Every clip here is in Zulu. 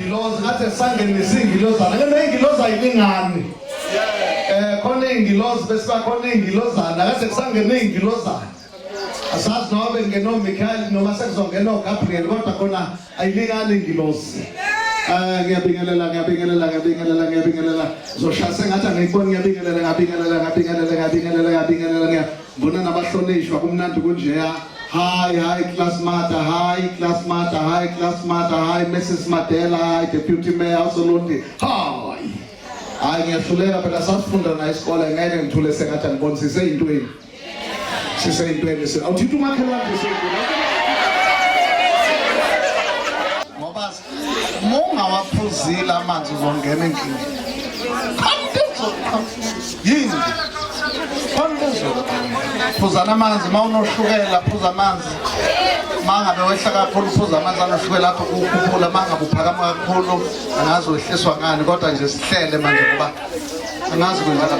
Ngilozi ngathi esangeni nesingilozana ke nengiloza yilingani. Eh khona ingilozi bese bakhona ingilozana kade kusangene ingilozana. Asazi noma bengeno Michael noma sekuzongena uGabriel kodwa khona ayilingani ingilozi. Eh ngiyabingelela ngiyabingelela ngiyabingelela ngiyabingelela zoshaya sengathi angiyiboni ngiyabingelela ngiyabingelela ngiyabingelela ngiyabingelela ngiyabingelela Mbona nabahlonishwa kumnandi kunjeya. Hi, hi, class mother, hi, class mother, hi, class mother, hi, Mrs. Madela, hi, Deputy Mayor, Solonti, hi. Hayi ngiyahluleka phela sasifunda na isikole ngeke ngithule sengathi angiboni siseyintweni. Siseyintweni. Awuthinta umakhelwane siseyintweni. Mungawaphuzile amanzi uzongena enkingeni. Yini? Phuzana amanzi uma unoshukela phuza amanzi. Mangabe wehla kakhulu phuza amanzi anoshukela akho ukukhuphula mangabe uphakama kakhulu angazi wehliswa ngani kodwa nje sihlele manje ngoba angazi kwenzeka.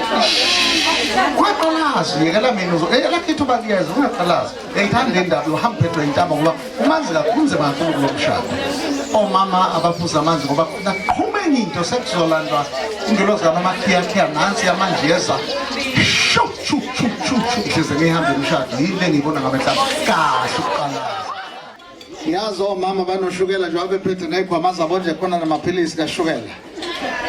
Ungaqalazi yekela mina uzo eyelakhithi ubaliyeza ungaqalazi. Ngithanda le ndaba yohamba uphethwe intaba ngoba umanzi kakhulu kunzima kakhulu kulo mshado omama abaphuza amanzi ngoba naqhuma enye into sekuzolandwa ingelozi kamamakhiyakhia nansi yamanzi yeza shu shu shu shu shu ngihleze ngihamba umshado yini le ngiyibona ngabe mhlawumbe kahle ukuqala siyazi omama banoshukela njengoba bephethe ney'khwama zabo nje khona namaphilisi kashukela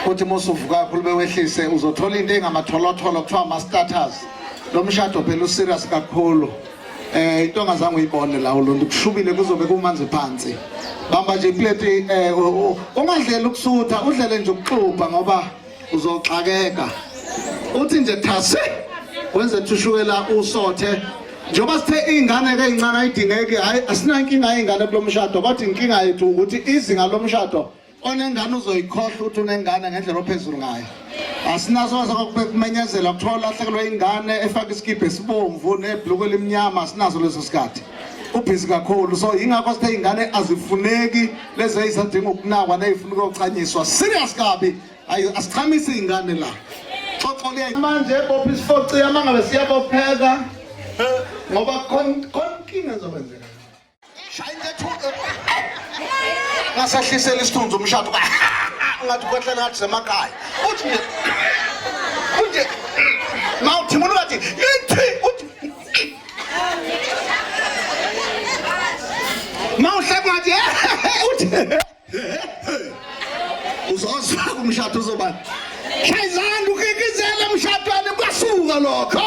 kuthi uma usuvuka kakhulu bewehlise uzothola into engamatholotolo kuthiwa ama-status lo mshado phela userious kakhulu eh into ongazange uyibone la ulonto kushubile kuzobe kumanzi phansi bamba nje iplate eh ungadlela ukusutha udlele nje ukuxubha ngoba uzoxakeka uthi nje thase wenze thushukela usothe njengoba sithe iy'ngane-ke ey'ncane ayidingeki hhayi asinankinga yey'ngane kulo mshado kodwa inkinga yethu ukuthi izinga lomshado onengane uzoyikhohlwa ukuthi unengane ngendlela ophezulu ngayo asinasoze kokumenyezela kuthiwa ulahlekelwe ingane efake isikibha esibomvu nebhluku elimnyama asinazo leso sikhathi ubhizi kakhulu so yingakho sithe iy'ngane azifuneki lezi ezisadinga ukunakwa neyifuna ukuyochanyiswa serious kabi ayi asichamisi iy'ngane la xoxo liya manje bopha isifoci yama ngabe siyabopheka ngoba konkinga ezokwenzeka shaya intethu ngasehlisela isithunzi umshado ngathi kwehlela ngathi semakhaya uthi nje kunje mawuthi umuntu ngathi mawuhleka ngathi eh, eh, eh, uthi uzozwa kumshado uzobani shayizanda ukikizela emshadweni kwasuka lokho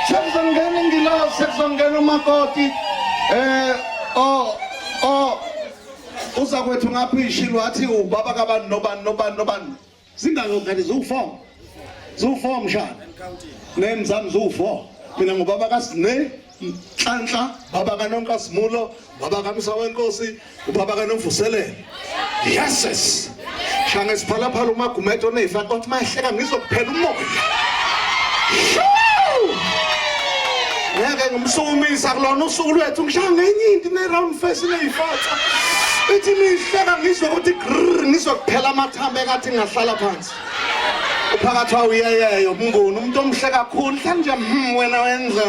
sekuzongena ingilosi sekuzongena umakoti eh oh oh uzakwethu ngaphi ishilo wathi ubaba kabani nobani nobani nobani Zingaki ngane ziwu-4? Ziwu-4 mshana. Name zami ziwu-4. Mina ngubaba kaSne Nhlanhla, baba kaNonka Simulo, baba kaMsa wenkosi, ubaba kaNomvuselele. Yeses. Shanga isiphalaphala umagumedo nefa kwathi mahleka ngizokuphela umoya. Ngeke ngimsukumisa kulona usuku lwethu ngishaya ngenye into ne round face neyifatha. Ithi mihleka ngizwe ukuthi grrr ngizwe kuphela ama Thambe kathi ngahlala phansi. Uphakathi wawo uyeyeyo umnguni umuntu omhle kakhulu hlanje hmm wena wenza.